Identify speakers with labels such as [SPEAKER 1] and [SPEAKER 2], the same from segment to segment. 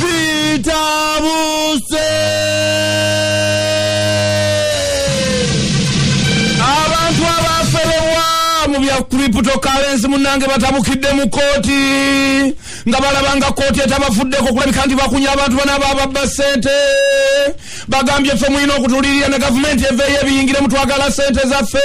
[SPEAKER 1] bitabuse abantu abaferebwa mu bya cryptocurrency munange batabukidde mu kooti nga balaba nga kooti etabafuddeko kulabika nti bakunya abantu banaba ababba sente bagambye ffe mulina okutulirira ne gavumenti eveeyo ebiyingiremu twagala sente zaffe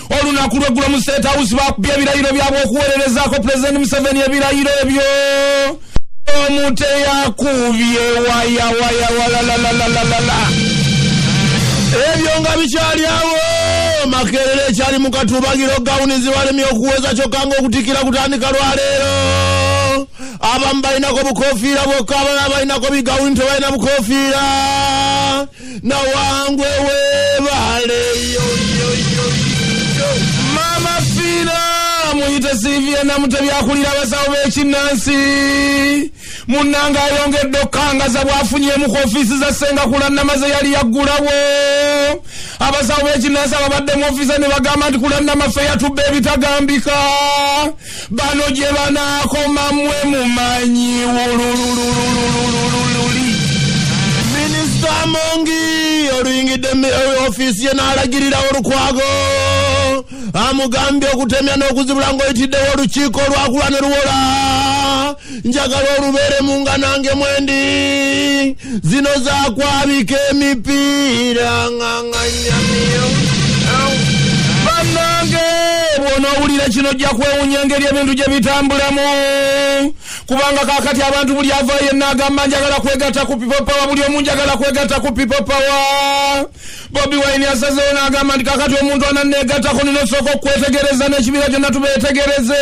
[SPEAKER 1] olunaku lweggulo mu state house bakubye ebirayiro byabwe okuweererezaako pulezidenti museveni ebirayiro ebyo omuteyakubye wayawayawayalalalala ebyo nga bikyali awo makerere ekyali mu katubagiro gawuni zibalemye okuweza kyokka nga okutikira kutandika lwaleero abamu balinako bukofiira bwokka abalala balinako bigawuni tebalina bukofiira nawangwe webale mama fina muyite sivia namute byakulira abasawo bekinnansi munanga ayongedde okukangaza bwafunyemu ku ofiisi za senga kulannamaze yali yaggulawo abasawo bekinnansi ababadde mu ofiisa ne bagamba nti kulannamafe yatubba ebitagambika bano gye banaakoma mwe mumanyi wululululululululi minisita amongi oluyingidde ofiisi ye n'alagirira olukwago amugambye okutemya n'okuzibula ng'oyitiddewo olukiiko olwakula ne luwola njagala olubeeremu nga nange mwendi zino zakwabika emipiira nganganyamiyo banange bwonaowulira kino ojja kwewunya engeri ebintu gye bitambulamu kubanga kakati abantu buli avayo yenna agamba njagala kwegatta ku pipo pawa buli omu njagala kwegatta ku pipo pawa bobi waini asazewo n'agamba nti kakati omuntu ananneegattako nina osooka okukwetegereza n'ekibiira kyonna tubeetegereze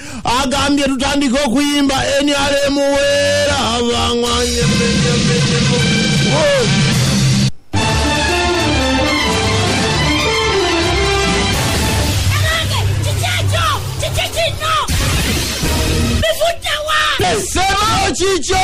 [SPEAKER 1] agambye tutandike okuyimba nrm weera abangwanye sema kikyo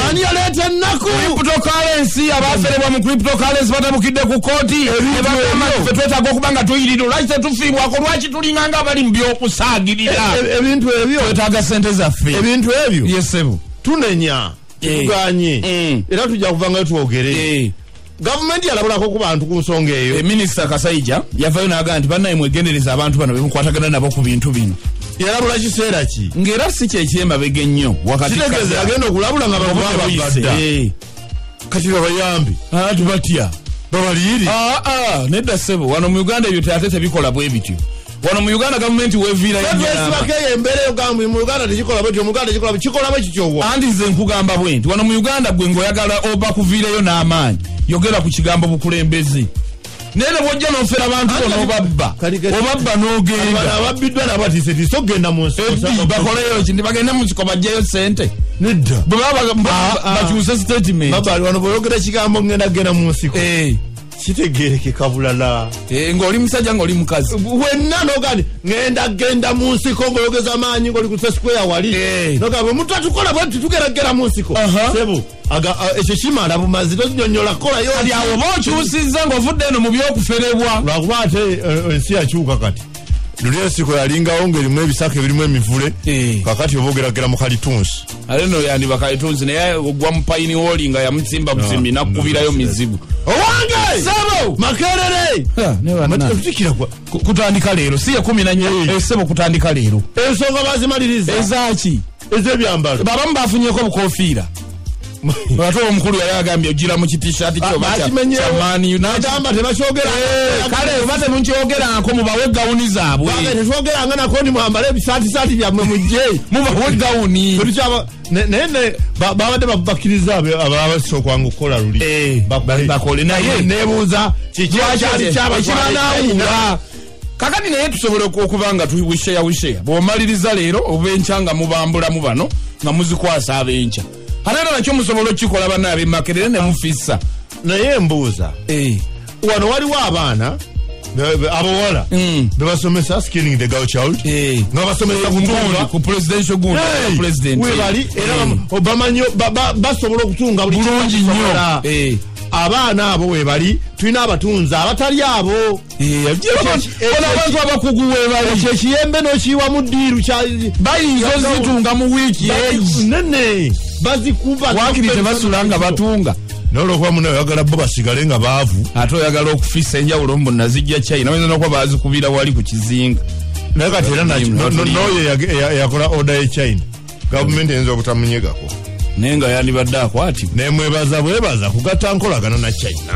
[SPEAKER 1] ani yaleeta ennaku cryptocurrency abaaferebwa mu cryptocurrency batabukidde ku kooti ne bagamba nti ffe twetaaga okuba nga tuyirira lwaki tetufiibwako lwaki tulinga nga abali mu by'okusaagirira e, e, ebintu ebyo twetaaga sente zaffe ebintu ebyo yesebo tunenya tetuganye eh. mm. era tujja kuvangayo twogere eh. gavumenti yalabulako ku bantu ku nsonga eyo eh, minisita kasaija yavayo naga nti banaye mwegendereza abantu bano bemukwatagana nabo ku bintu bino yalabula kiseera ki ngaera si kyekyemabega ennyo wakatiagenda okulabula nga bakubabagadda kati babayambi abantu batya babaliyiri ah, ah, nedda sebo wano mu uganda ebyo ate tebikola bwe bityo wano mu uganda gavumenti weviirayoeyo embeera yogamb mu uganda tekikola bwetyo mu uganda tekikola kikola bwe kityowo andi nze nkugamba bwe nti wano mu uganda gwe ngaoyagala oba kuviirayo n'amaanyi yogera ku kigambo bukulembeze naye nebwojja nofera bantu bona obabba obabba nogenda ababbiddwa
[SPEAKER 2] nabatisetiisa okugenda mu nsi bakoleyo ki nti
[SPEAKER 1] bagende mu nsiko bajjeyo sente nedda
[SPEAKER 2] bwebabakyuse
[SPEAKER 1] ah, ah. statement babali wano boyogera
[SPEAKER 2] kigambo ngenda kugenda mu nsiko eh. kitegerekeka bulala eh, ngaoli musajja
[SPEAKER 1] ngaoli mukazi wenna nogani
[SPEAKER 2] ngenda genda mu nsiko ngaoyogeza amaanyi ngaoli ku sesikweya wali eh. nogamba omuntu atukola bwe tutugeragera mu nsiko sebu ekyo kimala bumazi tokinyonyola kolayo kati awo oba okyusizza
[SPEAKER 1] ngaovudde eno mu byokuferebwa lwakuba ate
[SPEAKER 2] eh, ensi yakyuka kati luli ensiko yalingawo ngaerimu ebisaka ebirimu emivule eh. kakati oba ogeragera mu kalitunsi ate no yandiba
[SPEAKER 1] kalitunsi naye ogwa mupayini woli nga yamutsimba busimi ah, nakukubirayo mizibu owange
[SPEAKER 2] sebo makerere tutikira kutandika leero
[SPEAKER 1] si ekumi nanyo esebo eh, kutandika leero ensonga bazimaliriza
[SPEAKER 2] ezaki
[SPEAKER 1] ezebyambalo
[SPEAKER 2] babamu bafunyeko
[SPEAKER 1] obukofiira ate omukulu yali agambye ojira mu kitishati kyobakimenyewonagamba
[SPEAKER 2] tebakyogerakale eh, oba
[SPEAKER 1] temukyogerako mubawe gawuni zaabwe tetwogeranga nako ni
[SPEAKER 2] mwambale ebisatisati byammwe mujje mubawe gawuni
[SPEAKER 1] naye
[SPEAKER 2] babadde bakkiriza ababasa okwanga okukola luli eh, bakole naye
[SPEAKER 1] nebuuza
[SPEAKER 2] kikyakyali kyabakibanawuula
[SPEAKER 1] kakati naye tusobola okuba nga tuwisheya wisheya bwomaliriza leero obenkya nga mubambulamu bano nga muzikwasa abenkya ate era nakyo musobola okukikola bana abemakerere ne mufissa naye mbuuza
[SPEAKER 2] eh. wano waliwo abaana abawala mm. bebasomesa skinning the girl child eh. nga basomesa eh, ku presidential gundi
[SPEAKER 1] president webali era
[SPEAKER 2] bamanyo basobola okutunga bulungi nnyo
[SPEAKER 1] abaana
[SPEAKER 2] abo webali tulina abatunzi abatali abo
[SPEAKER 1] abantu abakugu webali kyekiyembe nokiyiwamu
[SPEAKER 2] diiru bayinza
[SPEAKER 1] ozitunga mu wiiki nene
[SPEAKER 2] bazikuba wakiri tebasula
[SPEAKER 1] nga batunga nolokuba muna
[SPEAKER 2] oyagala bo basigale nga baavu ate oyagala okufisa
[SPEAKER 1] enjawulo mbu nazijja chai naoyinza nokuba bazikubira wali ku kizinga naye kati era
[SPEAKER 2] noyo eyakola oda ye china gavumenti eyinza obutamunyegako naye nga
[SPEAKER 1] yandibadde
[SPEAKER 2] akwatibwa nemwebaza bwebaza
[SPEAKER 1] kugatta
[SPEAKER 2] nkolagana
[SPEAKER 1] na
[SPEAKER 2] china